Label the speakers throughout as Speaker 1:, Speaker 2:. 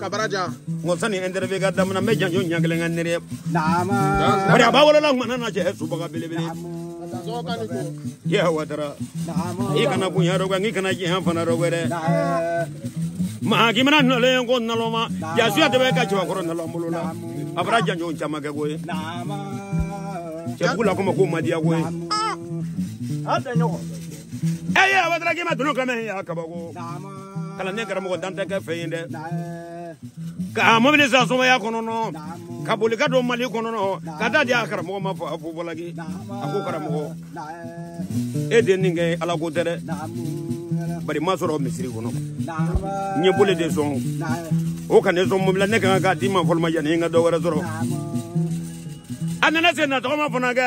Speaker 1: kabaraja n ko sani interview ka damina n bɛ janjo ɲɛ kelen kɛ nere bari a b'a wolola ŋana na cɛ subaga belebele ya watara i kana bonya dɔ kɛ n'i kana jɛnya fana dɔ kɛ dɛ maa k'i mana nɔlen ko nalɔma jasuya de bɛ ka cɛbakɔrɔ nalɔn bolo la a fɔra janjo caman kɛ ko ye cɛbugu la ko ma ko madiya ko ye ɛ ye abadaraki ma tunu kɛmɛ y'a kabako kalanden karamɔgɔ dan tɛ kɛ fɛn ye dɛ ka mɔbili san sumaya kɔnɔnɔ ka boli ka don mali kɔnɔnɔ ka t'a di a karamɔgɔ ma fɔ a fo bɔlaki a ko karamɔgɔ e de nin kɛ ala ko tɛ dɛ bari n m'a sɔrɔ misiri kɔnɔ n ye boli de sɔn o ka ne sɔn mɔbili la ne ka kan k'a d'i ma fɔlɔ ma yanni n ka dɔ wɛrɛ sɔrɔ a nana se na tɔgɔma fana kɛ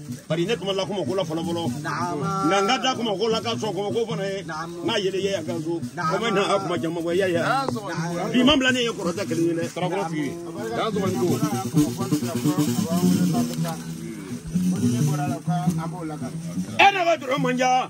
Speaker 1: bari ne kuma la kuma ko la fɔlɔ fɔlɔ nka n ka da kuma ko la ka sɔn kuma ko fana ye n ka yɛlɛ yɛ yan ka so o ma na a kuma jama bɔ yɛ yɛ bi ma bila ne ye kɔrɔta kelen ye dɛ tarakɔrɔ f'i ye k'a sɔrɔ ni ko. e na ka dɔrɔn man ja.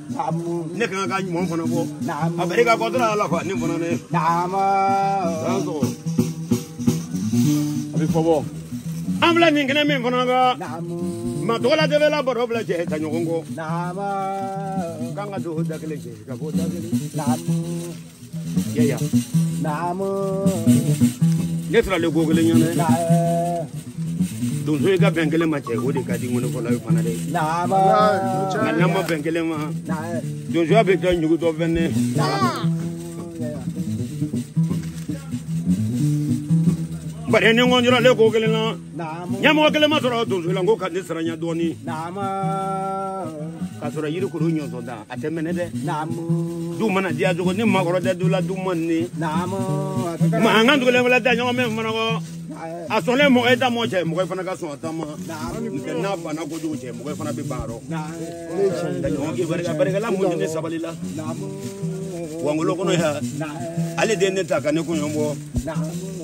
Speaker 1: ne kan ka ɲuman fana bɔ a bɛ ka kɔtɔn ala fa ne fana ne a bɛ fɔ bɔ an filɛ nin kɛnɛ min fana kan ma tɔgɔla de bɛ la baro bila cɛ taa ɲɔgɔn kɔ k'an ka don o da kelen cɛ ka bɔ o da kelen yaya naamu ne taara le ko kelen ɲɔgɔn dɛ donsow ka bɛn kelen ma cɛ o de ka di ŋɔnifɔla ye fana dɛ naama nka n'a ma bɛn kelen ma donsoya bɛ kɛ ɲugutɔ fɛn ne bari ne kɔni jɔrɔlen ko kelen na ɲɛmɔgɔ kelen ma sɔrɔ donso la n ko ka ne saranya dɔɔnin k'a sɔrɔ yiri kuru ɲɔnsɔn da a tɛ mɛnɛ dɛ du mana diya cogo ni maakɔrɔ tɛ du la du man di mankan tugulen wɛlɛ da ɲɔgɔn mɛ fanakɔ a sɔnlen mɔgɔ ye da mɔgɔ cɛ mɔgɔ fana ka sɔn a ta ma n'a banna kojugu cɛ mɔgɔ fana bɛ ban yɔrɔ da ɲɔgɔn k'i barika barikala mun ni sabali la wangolo kɔnɔ yan ale den ne ta ka ne kun bɔ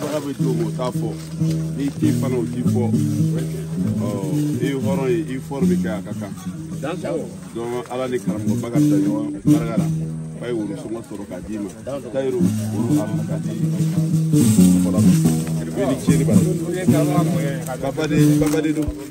Speaker 1: Baga bɛ don o t'a fɔ n'i t'i fana o t'i fɔ i ye hɔrɔn ye i fɔri bɛ kɛ a ka kan donc ala ni karamɔgɔ barika da ɲɔgɔn barika la a ye woro sɔngɔ sɔrɔ k'a d'i ma tayiru woro a ma k'a di fɔlɔ ma i ni tiɲɛni b'a la babaden babaden don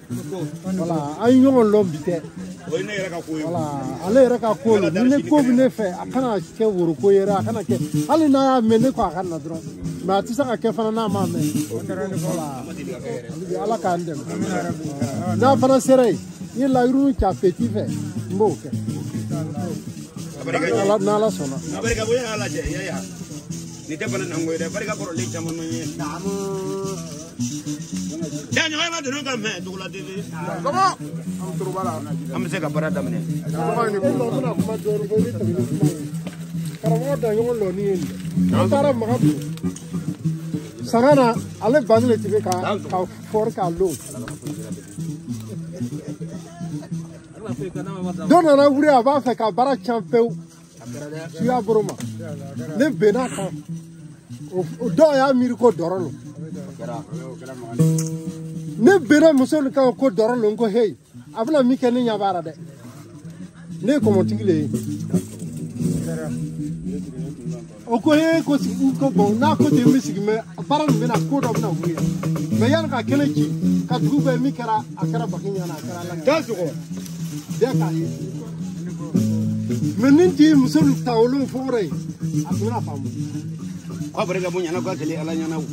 Speaker 1: voilà an ye ɲɔgɔn lɔn bi tɛ voilà ale yɛrɛ ka ko don ni ne ko bɛ ne fɛ a kana kɛ woroko ye dɛ a kana kɛ hali n'a y'a mɛn ne ko a ka na dɔrɔn mais a tɛ se ka kɛ fana n'a m'a mɛn voilà ala k'an dɛmɛ n'a fana sera yen n ye layiru ta peti fɛ n b'o kɛ n'ala sɔnna nin tɛ bana nango ye dɛ barika kɔrɔlen caman man ye da ɲɔgɔn ma donna ka mɛn dugu la dede an bɛ se ka baara daminɛ karamɔgɔ daɲɔgɔn lɔni ye nin an taara maga bi sanga na ale bani de tun bɛ ka ka fɔri k'a lon dɔ nana wuli a b'a fɛ ka baara cɛn pewu suya boro ma ne benn'a kan o dɔw y'a miiri ko dɔrɔ lo ne benna muso nin kan ko dɔrɔ lo ko heyi a bɛna min kɛ ne ɲɛ b'a la dɛ ne ye kɔmɔtigi le ye o ko ye ko sigi ko bon n'a ko ten n bɛ sigi mais baara nin bɛna ko dɔ bɛna wuli mɛ yanni ka kɛnɛ ci ka dugu bɛɛ min kɛra a kɛra baki ɲana a kɛra ala da sɔgɔ bɛɛ k'a ye mais nin tɛ muso nin ta wolon fɔkɔrɔ ye a tun bɛna faamu k'a barika bonya na k'a kɛlɛ ala ɲɛna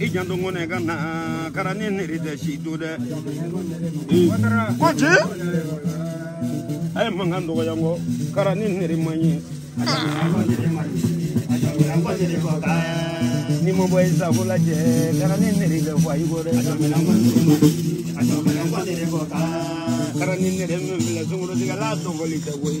Speaker 1: i janto ŋɔnɛ ka na kara ni niri tɛ si to dɛ ko ci a ye mankan dɔgɔya kɔ kara ni niri man ye ni ma bɔ i sago lajɛ kara ni niri bɛ fɔ a y'i ko dɛ kara ni niri min filɛ sungurutigiya la tɔgɔli tɛ koyi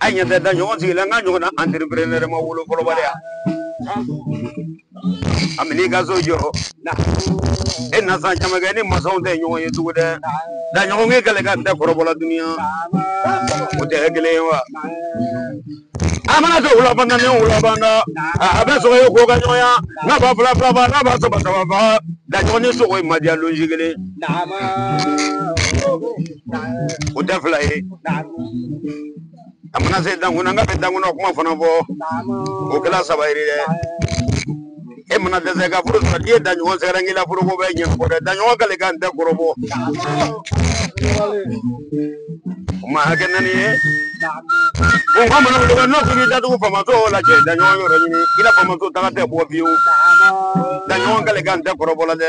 Speaker 1: an ɲɛ tɛ da ɲɔgɔn sigilen an ka ɲɔgɔn na entrepreneur ma wolo fɔlɔbaliya a bɛ n'i ka so jɔ e na san caman kɛ ni masaw tɛ ɲɔgɔn ye tugu dɛ daɲɔgɔn ye kɛlɛ ka tɛ kɔrɔbɔ la dunuya o tɛ kɛ kelen ye wa an mana kɛ wulabanda ni wulabanda a bɛ sogo ye ko ka ɲɔgɔnya n'a ba fila fila ba n'a ba saba saba ba daɲɔgɔn ni sogo ye madiya lonsi kelen o da fila ye a mana se dankun an ka bɛ dankun kuma fana fɔ o kɛra saba ye dɛ e mana dɛsɛ ka furu sɔrɔ n'i ye daɲɔgɔn sɛgɛrɛ k'i la foroko bɛ ɲɛ kɔrɔ dɛ daɲɔgɔn k'ale ka n tɛ kɔrɔbɔ o ma hakɛ naani ye bon ka mana wuli n'o k'i datugu faamaso lajɛ daɲɔgɔn yɔrɔ ɲini i la faamaso taga tɛ bɔ fiyewu daɲɔgɔn k'ale ka n tɛ kɔrɔbɔ la dɛ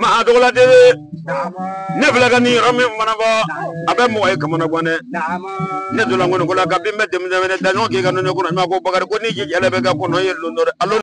Speaker 1: Maa dɔgɔ de ne fila ka ni yɔrɔ min mana bɔ a bɛ mɔgɔ ye ka bɔ dɛ ne donnakolola ka bin bɛ denmisɛn da ɲɔgɔn k'i ka ne ko bakarijan ko ni ji bɛ ka kɔnɔ ye don dɔ